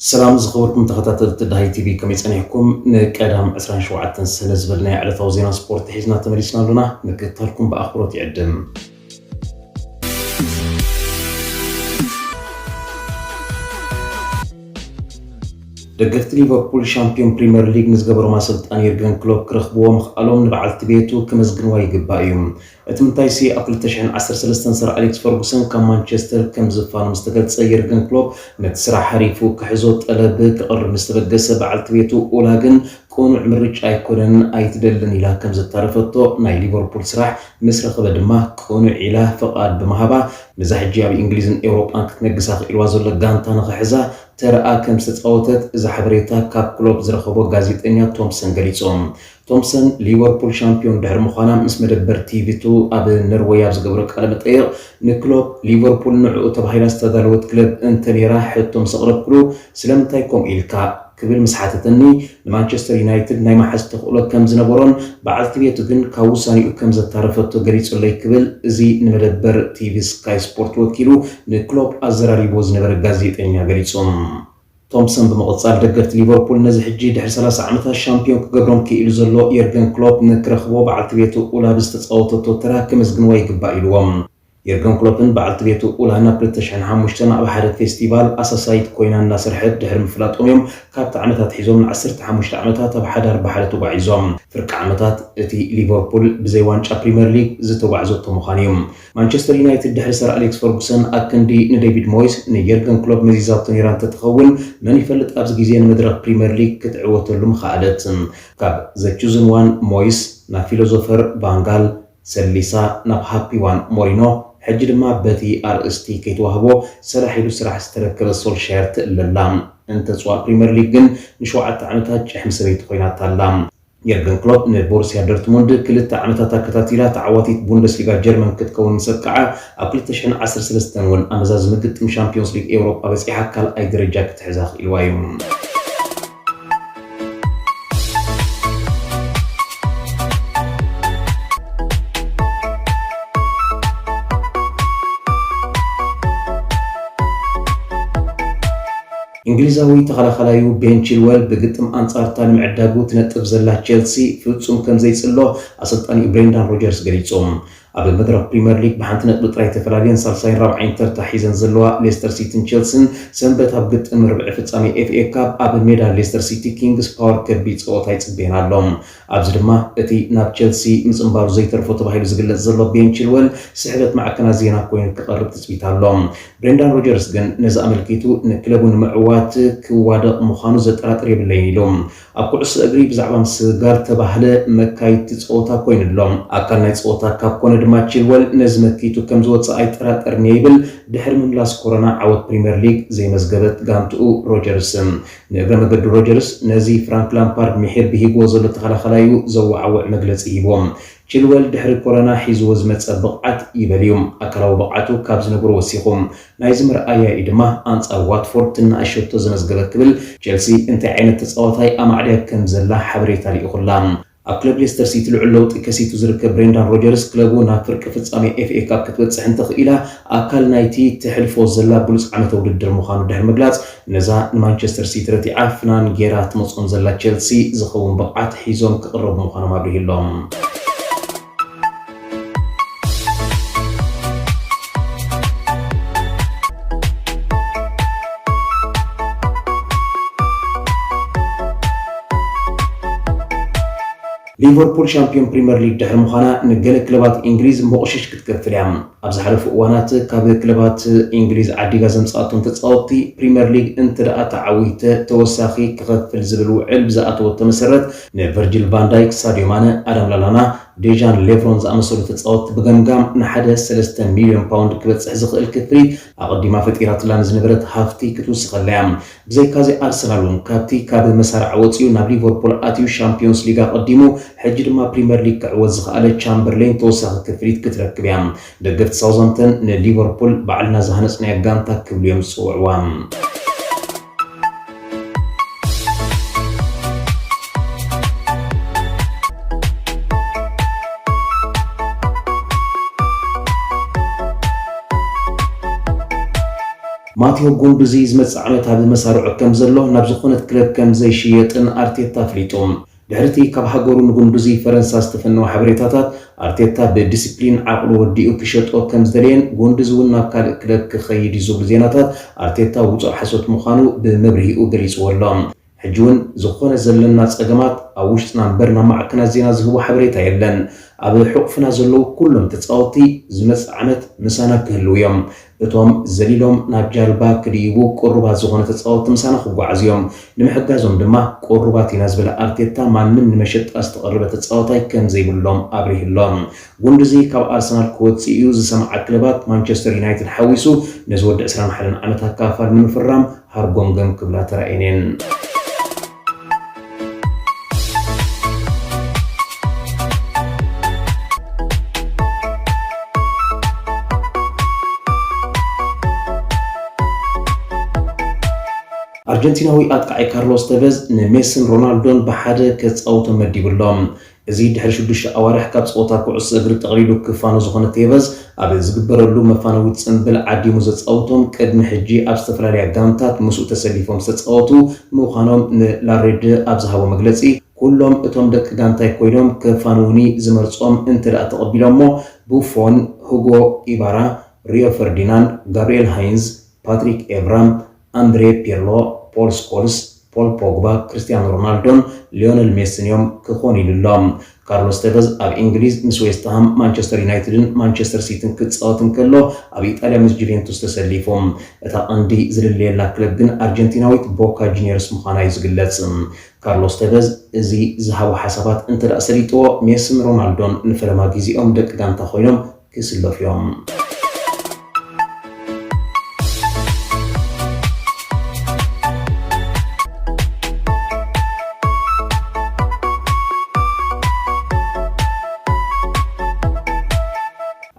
ሰላም ዝኸበርኩም ተኸታተልቲ ዳሃይ ቲቪ ከመይ ጸኒሕኩም ንቀዳም ዕስራን ሸውዓተን ሰነ ዝበልናዮ ዕለታዊ ዜና ስፖርት ሒዝና ተመሊስና ኣሎና ምክትታልኩም ብኣኽብሮት ይዕድም ደገፍቲ ሊቨርፑል ሻምፒዮን ፕሪምየር ሊግ ንዝገበሮም ኣሰልጣኒ የርገን ክሎፕ ክረኽብዎ ምኽኣሎም ንበዓልቲ ቤቱ ክመዝግንዋ ይግባእ እዩ። እቲ ምንታይሲ ኣብ ክልተ ሽሕን ዓሰርተ ሰለስተን ሰር ኣሌክስ ፈርጉሰን ካብ ማንቸስተር ከም ዝፋኖ ምስ ተገልጸ የርገን ክሎፕ ነቲ ስራሕ ሓሪፉ ክሕዞ ጠለብ ከቕርብ ምስ ተበገሰ በዓልቲ ቤቱ ኡላ ግን ቅኑዕ ምርጫ ኣይኮነን ኣይትደልን ኢላ ከም ዘታለፈቶ ናይ ሊቨርፑል ስራሕ ምስ ረኸበ ድማ ቅኑዕ ኢላ ፍቓድ ብምሃባ ነዛ ሕጂ ኣብ እንግሊዝን ኤውሮጳን ክትነግስ ኣኽኢልዋ ዘሎ ጋንታ ንኽሕዛ ተራኣ ከም ዝተጻወተት እዚ ሓበሬታ ካብ ክሎፕ ዝረኸቦ ጋዜጠኛ ቶምፕሰን ገሊጹ። ቶምሰን ሊቨርፑል ሻምፕዮን ድሕሪ ምዃና ምስ መደበር ቲቪ ቱ ኣብ ነርወይ ኣብ ዝገበሮ ቃለመጠይቕ ንክሎፕ ሊቨርፑል ንዕኡ ተባሂላ ዝተዳለወት ክለብ እንተነይራ ሕቶ ምስ ኣቕረብኩሉ ስለምንታይ ከምኡ ኢልካ? ክብል ምስ ሓተተኒ ንማንቸስተር ዩናይትድ ናይ ምሓዝ ተኽእሎ ከም ዝነበሮን በዓልቲ ቤቱ ግን ካብ ውሳኔኡ ከም ዘታረፈቶ ገሊጹለይ ክብል እዚ ንመደበር ቲቪ ስካይ ስፖርት ወኪሉ ንክሎፕ ኣዘራሪብዎ ዝነበረ ጋዜጠኛ ገሊጹ። ቶምሰን ብምቕጻል ደገፍቲ ሊቨርፑል ነዚ ሕጂ ድሕሪ ሰላሳ ዓመታት ሻምፕዮን ክገብሮም ክኢሉ ዘሎ የርገን ክሎፕ ንክረኽቦ በዓልቲ ቤቱ ኡላ ብዝተጻወተቶ ተራ ከመስግንዋ ይግባእ ኢልዎም። የርገን ክሎፕን በዓልቲ ቤቱ ኡላ ናብ ክልተ ሽሕን ሓሙሽተን ኣብ ሓደ ፌስቲቫል ኣሳሳይት ኮይና እናሰርሐት ድሕሪ ምፍላጦም'ዮም ካብቲ ዓመት ኣትሒዞም ንዓሰርተ ሓሙሽተ ዓመታት ኣብ ሓዳር ብሓደ ተጓዒዞም። ፍርቂ ዓመታት እቲ ሊቨርፑል ብዘይ ዋንጫ ፕሪመር ሊግ ዝተጓዕዘቶ ምዃኑ'ዩ። ማንቸስተር ዩናይትድ ድሕሪ ሰር ኣሌክስ ፈርጉሰን ኣክንዲ ንዴቪድ ሞይስ ንየርገን ክሎፕ መዚዛቶ ነይራ እንተትኸውን መን ይፈልጥ ኣብዚ ግዜ ንመድረኽ ፕሪመር ሊግ ክትዕወተሉ ምኸኣለት። ካብ ዘ ቹዝን ዋን ሞይስ ናብ ፊሎዞፈር ቫን ጋል ሰሊሳ ናብ ሃፒ ዋን ሞሪኖ ሕጂ ድማ በቲ ኣርእስቲ ከይተዋህቦ ሰራሕ ኢሉ ስራሕ ዝተረከበ ሶልሻየር ትእለ ኣላ። እንተጽዋእ ፕሪመር ሊግ ግን ንሸውዓተ ዓመታት ጭሕሚ ሰበይቲ ኮይናታ ኣላ። የርገን ክሎፕ ንቦሩስያ ዶርትሙንድ ክልተ ዓመታት ኣከታቲላ ተዓዋቲት ቡንደስሊጋ ጀርመን ክትከውን ምስ ኣብቅዓ፣ ኣብ ክልተ ሽሕን ዓሰርተ ሰለስተን እውን ኣመዛዝሚ ግጥም ሻምፕዮንስ ሊግ ኤውሮጳ በጺሓ ካልኣይ ደረጃ ክትሕዝ ኣኽኢልዋ እዩ። እንግሊዛዊ ተኸላኻላዩ ቤን ቺልወል ብግጥም ኣንጻር'ታ ንምዕዳጉ ትነጥፍ ዘላ ቼልሲ ፍጹም ከም ዘይጽሎ ኣሰልጣኒኡ ብሬንዳን ሮጀርስ ገሊጹ። ኣብ መድረኽ ፕሪመር ሊግ ብሓንቲ ነጥቢ ጥራይ ተፈላልየን ሳልሳይን ራብዓይን ተርታ ሒዘን ዘለዋ ሌስተር ሲቲን ቼልሲን ሰንበት ኣብ ግጥም ርብዒ ፍጻሜ ኤፍኤ ካፕ ኣብ ሜዳ ሌስተር ሲቲ ኪንግስ ፓወር ከቢድ ጸወታ ይጽበየን ኣሎ። ኣብዚ ድማ እቲ ናብ ቸልሲ ምጽንባሩ ዘይተርፎ ተባሂሉ ዝግለጽ ዘሎ ቤን ቺልወል ስሕበት ማዕከናት ዜና ኮይኑ ክቐርብ ትጽቢት ኣሎ። ብሬንዳን ሮጀርስ ግን ነዚ ኣመልኪቱ ንክለቡ ንምዕዋት ክዋደቕ ምዃኑ ዘጠራጥር የብለይን ኢሉ። ኣብ ኩዕሶ እግሪ ብዛዕባ ምስግጋር እተባህለ መካይድቲ ጸወታ ኮይኑ ኣሎ። ኣካል ናይ ጸወታ ካብ ኮነ ድማ ቺልወል ነዚ መኪቱ ከም ዝወጽእ ኣይጠራጠርን'የ ይብል። ድሕሪ ምምላስ ኮሮና ዓወት ፕሪምየር ሊግ ዘይመዝገበት ጋንትኡ ሮጀርስ ንእግረ መገዱ ሮጀርስ ነዚ ፍራንክ ላምፓርድ ምሒር ብሂጉዎ ዘሎ ተኸላኻላዩ ዘወዓውዕ መግለጺ ሂቡዎ። ቺልወል ድሕሪ ኮሮና ሒዙዎ ዝመጸ ብቕዓት ይበል'ዩ። ኣካላዊ ብቕዓቱ ካብ ዝነበሮ ወሲኹ። ናይዚ መርኣያ'ዩ ድማ ኣንጻር ዋትፎርድ ትናኣሽ ሸቶ ዘመዝገበ ክብል ቼልሲ እንታይ ዓይነት ተጻዋታይ ኣማዕድያ ከምዘላ ሓበሬታ ልኢኹላ። ኣብ ክለብ ሌስተር ሲቲ ልዑል ለውጢ ከሲቱ ዝርከብ ብሬንዳን ሮጀርስ፣ ክለቡ ናብ ፍርቂ ፍጻሜ ኤፍኤ ካፕ ክትበጽሕ እንተኽኢላ ኣካል ናይቲ ተሕልፎ ዘላ ብሉጽ ዓመተ ውድድር ምዃኑ ድሕሪ ምግላጽ፣ ነዛ ንማንቸስተር ሲቲ ረቲዓ ፍናን ገይራ ትመጾም ዘላ ቼልሲ ዝኸውን ብቕዓት ሒዞም ክቕረቡ ምዃኖም ኣብሪሁ ኣሎ። ሊቨርፑል ሻምፒዮን ፕሪምየር ሊግ ድሕሪ ምዃና ንገለ ክለባት እንግሊዝ መቑሽሽ ክትከፍል እያ። ኣብ ዝሓለፉ እዋናት ካብ ክለባት እንግሊዝ ዓዲጋ ዘምፅኣቶም ተፃወትቲ ፕሪምየር ሊግ እንተደኣ ተዓዊተ ተወሳኺ ክኸፍል ዝብል ውዕል ብዝኣተወቶ መሰረት ንቨርጂል ቫን ዳይክ፣ ሳድዮ ማነ፣ ኣዳም ላላና፣ ዴዣን ሌቭሮን ዝኣመሰሉ ተጻወትቲ ብገምጋም ንሓደ ሰለስተ ሚልዮን ፓውንድ ክበጽሕ ዝኽእል ክፍሊት ኣቐዲማ ፈጢራትላ ንዝነበረት ሃፍቲ ክትውስኸላ'ያ። ብዘይካ'ዚ ኣርሰናል'ውን ካብቲ ካብ መሳርዕ ወጺኡ ናብ ሊቨርፑል ኣትዩ ሻምፕዮንስ ሊግ ኣቐዲሙ ሕጂ ድማ ፕሪመር ሊግ ክዕወት ዝኸኣለ ቻምበርሌን ተወሳኺ ክፍሊት ክትረክብ'ያ። ደገፍቲ ሳውዛምተን ንሊቨርፑል ባዕልና ዝሃነጽናያ ጋንታ ክብሉ'ዮም ዝጽውዕዋ። ማቲዮ ጉንዱዚ ዝመጽእ ዓመት ኣብ መሳርዑ ከም ዘሎ ናብ ዝኾነት ክለብ ከም ዘይሽየጥን ኣርቴታ ኣፍሊጡ። ድሕሪ'ቲ ካብ ሃገሩ ንጉንዱዙይ ፈረንሳ ዝተፈነወ ሓበሬታታት፣ ኣርቴታ ብዲሲፕሊን ዓቕሉ ረዲኡ ክሸጦ ከምዝደለየን ጉንዱዙ'ውን ናብ ካልእ ክለብ ክኸይድ'ዩ ዝብሉ ዜናታት ኣርቴታ ውጹእ ሓሶት ምዃኑ ብመብርሂኡ ገሊጽዎ ኣሎ። ሕጂ'ውን ዝኾነ ዘለና ጸገማት ኣብ ውሽጥና እምበር ናብ ማዕከናት ዜና ዝህቦ ሓበሬታ የለን። ኣብ ሕቝፍና ዘለዉ ኩሎም ተጻወትቲ ዝመጽእ ዓመት ምሳና ክህልዉ'ዮም። እቶም ዘሊሎም ናብ ጃልባ ክድይቡ ቅሩባት ዝኾኑ ተጻወትቲ ምሳና ክጓዓዙ እዮም። ንምሕጋዞም ድማ ቅሩባት ኢና ዝበለ ኣርቴታ፣ ማንም ንመሸጣ ዝተቐረበ ተጻዋታይ ከም ዘይብሎም ኣብሪሁ'ሎ። ጉንዱዚ ካብ ኣርሰናል ክወጽእ'ዩ ዝሰምዓ ክለባት፣ ማንቸስተር ዩናይትድ ሓዊሱ፣ ነዚ ወዲ ዕስራን ሓደን ዓመት ኣካፋል ንምፍራም ሃርጎምገም ክብላ ተራእየን'የን። ኣርጀንቲናዊ ኣጥቃዒ ካርሎስ ተቨዝ ንሜስን ሮናልዶን ብሓደ ከጻውቶ መዲቡ ኣሎ። እዚ ድሕሪ ሽዱሽተ ኣዋርሕ ካብ ጸወታ ኩዕሶ እግሪ ጠቕሊሉ ክፋኖ ዝኾነ ቴቨዝ፣ ኣብ ዝግበረሉ መፋነዊ ጽምብል ዓዲሙ ዘጻውቶም ቅድሚ ሕጂ ኣብ ዝተፈላለያ ጋንታት ምስኡ ተሰሊፎም ዝተጻወቱ ምዃኖም ንላሬድ ኣብ ዝሃቦ መግለጺ፣ ኩሎም እቶም ደቂ ጋንታይ ኮይኖም ከፋንዉኒ ዝመርጾም እንተደኣ ተቐቢሎሞ፣ ቡፎን፣ ሁጎ ኢባራ፣ ሪዮ ፈርዲናንድ፣ ጋብሪኤል ሃይንዝ፣ ፓትሪክ ኤቭራ፣ ኣንድሬ ፒርሎ፣ ፖል ስኮልስ፣ ፖል ፖግባ፣ ክርስትያኖ ሮናልዶን ሊዮነል ሜስን እዮም ክኾኑ ኢሉ ኣሎ። ካርሎስ ተቨዝ ኣብ እንግሊዝ ምስ ዌስትሃም፣ ማንቸስተር ዩናይትድን ማንቸስተር ሲቲን ክጻወት እንከሎ ኣብ ኢጣልያ ምስ ጁቬንቱስ ተሰሊፉ። እታ ቀንዲ ዝልለየላ ክለብ ግን ኣርጀንቲናዊት ቦካ ጁንየርስ ምዃና'ዩ ዝግለጽ። ካርሎስ ተቨዝ እዚ ዝሃቦ ሓሳባት እንተድኣ ሰሊጥዎ ሜስን ሮናልዶን ንፈለማ ግዜኦም ደቂ ጋንታ ኮይኖም ክስለፉ እዮም።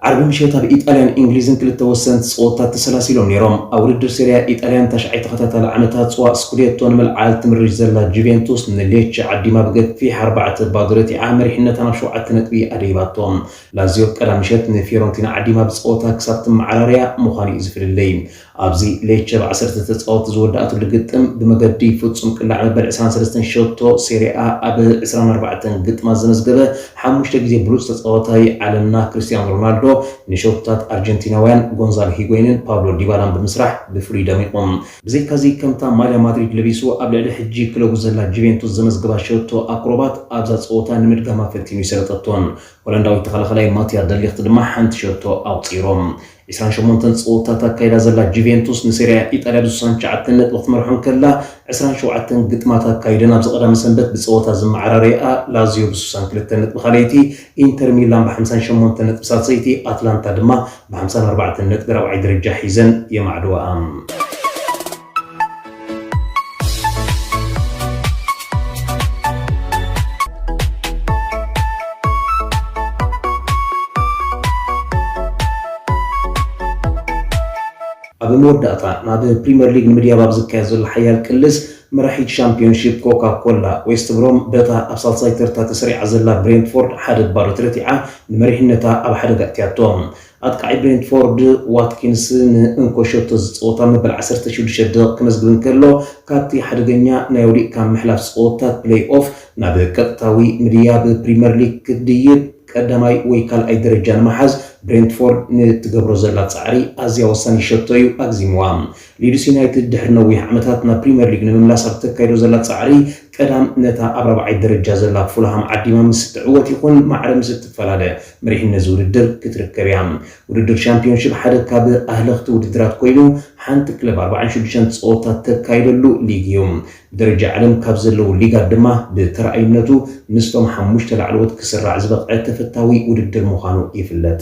ዓርቢ ምሸት ኣብ ኢጣልያን እንግሊዝን ክልተ ወሰንቲ ጸወታት ተሰላሲሎም ነይሮም። ኣብ ውድድር ሴሪያ ኢጣልያን ታሽዓይ ተኸታታሊ ዓመታ ጽዋእ ስኩዴቶ ንምልዓል ትምርሽ ዘላ ጁቬንቱስ ንሌቸ ዓዲማ ብገፊሕ ኣርባዕተ ባዶ ረቲዓ መሪሕነታ ናብ ሸውዓተ ነጥቢ ኣደይባቶ። ላዚዮ ቀዳም ምሸት ንፊዮረንቲና ዓዲማ ብጸወታ ክሳብ ትመዓራረያ ምዃኑ'ዩ ዝፍልልይ። ኣብዚ ሌቸ ብ ዓሰርተ ተጻወትቲ ዝወደኣትሉ ግጥም ብመገዲ ፍጹም ቅላዕ መበል ዕስራን ሰለስተን ሸቶ ሴሪኣ ኣብ ዕስራን ኣርባዕተን ግጥማት ዘመዝገበ ሓሙሽተ ግዜ ብሉጽ ተጻዋታይ ዓለምና ክርስትያኖ ሮናልዶ ንሸቶታት ኣርጀንቲናውያን ጎንዛሎ ሂጎይንን ፓብሎ ዲባላን ብምስራሕ ብፍሉይ ደሚቑ። ብዘይካ'ዚ ከምታ ማልያ ማድሪድ ለቢሱ ኣብ ልዕሊ ሕጂ ክለቡ ዘላ ጁቬንቱስ ዘመዝገባ ሸቶ ኣክሮባት ኣብዛ ጸወታ ንምድጋማ ፈቲኑ ኣይሰለጠቶን። ሆላንዳዊ ተኸላኻላይ ማትያ ደ ሊኽት ድማ ሓንቲ ሸቶ ኣቑጺሩ። ዕስራን ሸሞንተን ጸወታታት ኣካይዳ ዘላ ጁቬንቱስ ንሴሪኣ ኢጣልያ ብስሳን ትሽዓተን ነጥቢ ክትመርሖ እንከላ፣ ዕስራን ሸውዓተን ግጥማት ኣካይደን ኣብዚ ቀዳመ ሰንበት ብጸወታ ዝመዓራረይኣ ላዝዮ ብስሳን ክልተ ነጥቢ ካልኣይቲ፣ ኢንተር ሚላን ብሓምሳን ሸሞንተን ነጥቢ ሳልሰይቲ፣ ኣትላንታ ድማ ብሓምሳን ኣርባዕተን ነጥቢ ራብዓይ ደረጃ ሒዘን የማዕድዋኣ። ኣብ መወዳእታ ናብ ፕሪምየር ሊግ ንምድያብ ኣብ ዝካየድ ዘሎ ሓያል ቅልስ መራሒት ሻምፒዮንሺፕ ኮካ ኮላ ዌስት ብሮም በታ ኣብ ሳልሳይ ተርታ ተሰሪዓ ዘላ ብሬንትፎርድ ሓደ ባዶ ተረቲዓ ንመሪሕነታ ኣብ ሓደጋ ኣእትያቶ። ኣጥቃዒ ብሬንትፎርድ ዋትኪንስ ንእንኮ ሸቶ እዚ ጸወታ መበል ዓሰርተ ሽዱሽተ ደቒቕ ከመዝግብ እንከሎ፣ ካብቲ ሓደገኛ ናይ ወዲቕካ ምሕላፍ ጸወታት ፕለይ-ኦፍ ናብ ቀጥታዊ ምድያብ ፕሪመር ሊግ ክድይብ ቀዳማይ ወይ ካልኣይ ደረጃ ንምሓዝ ብሬንትፎርድ ንእትገብሮ ዘላ ጻዕሪ ኣዝያ ወሳኒት ሸቶ እዩ ኣግዚምዋ። ሊድስ ዩናይትድ ድሕሪ ነዊሕ ዓመታት ናብ ፕሪምየር ሊግ ንምምላስ ኣብ እተካይዶ ዘላ ጻዕሪ፣ ቀዳም ነታ ኣብ ራብዓይ ደረጃ ዘላ ፉልሃም ዓዲማ ምስ እትዕወት ይኹን ማዕረ ምስ እትፈላለ መሪሕነት እዚ ውድድር ክትርከብ እያ። ውድድር ሻምፕዮንሺፕ ሓደ ካብ ኣህለኽቲ ውድድራት ኮይኑ፣ ሓንቲ ክለብ ኣርባዓን ሽዱሽተን ጸወታ እተካይደሉ ሊግ እዩ። ብደረጃ ዓለም ካብ ዘለዉ ሊጋት ድማ ብተራኣዩነቱ ምስቶም ሓሙሽተ ላዕለዎት ክስራዕ ዝበቕዐ ተፈታዊ ውድድር ምዃኑ ይፍለጥ።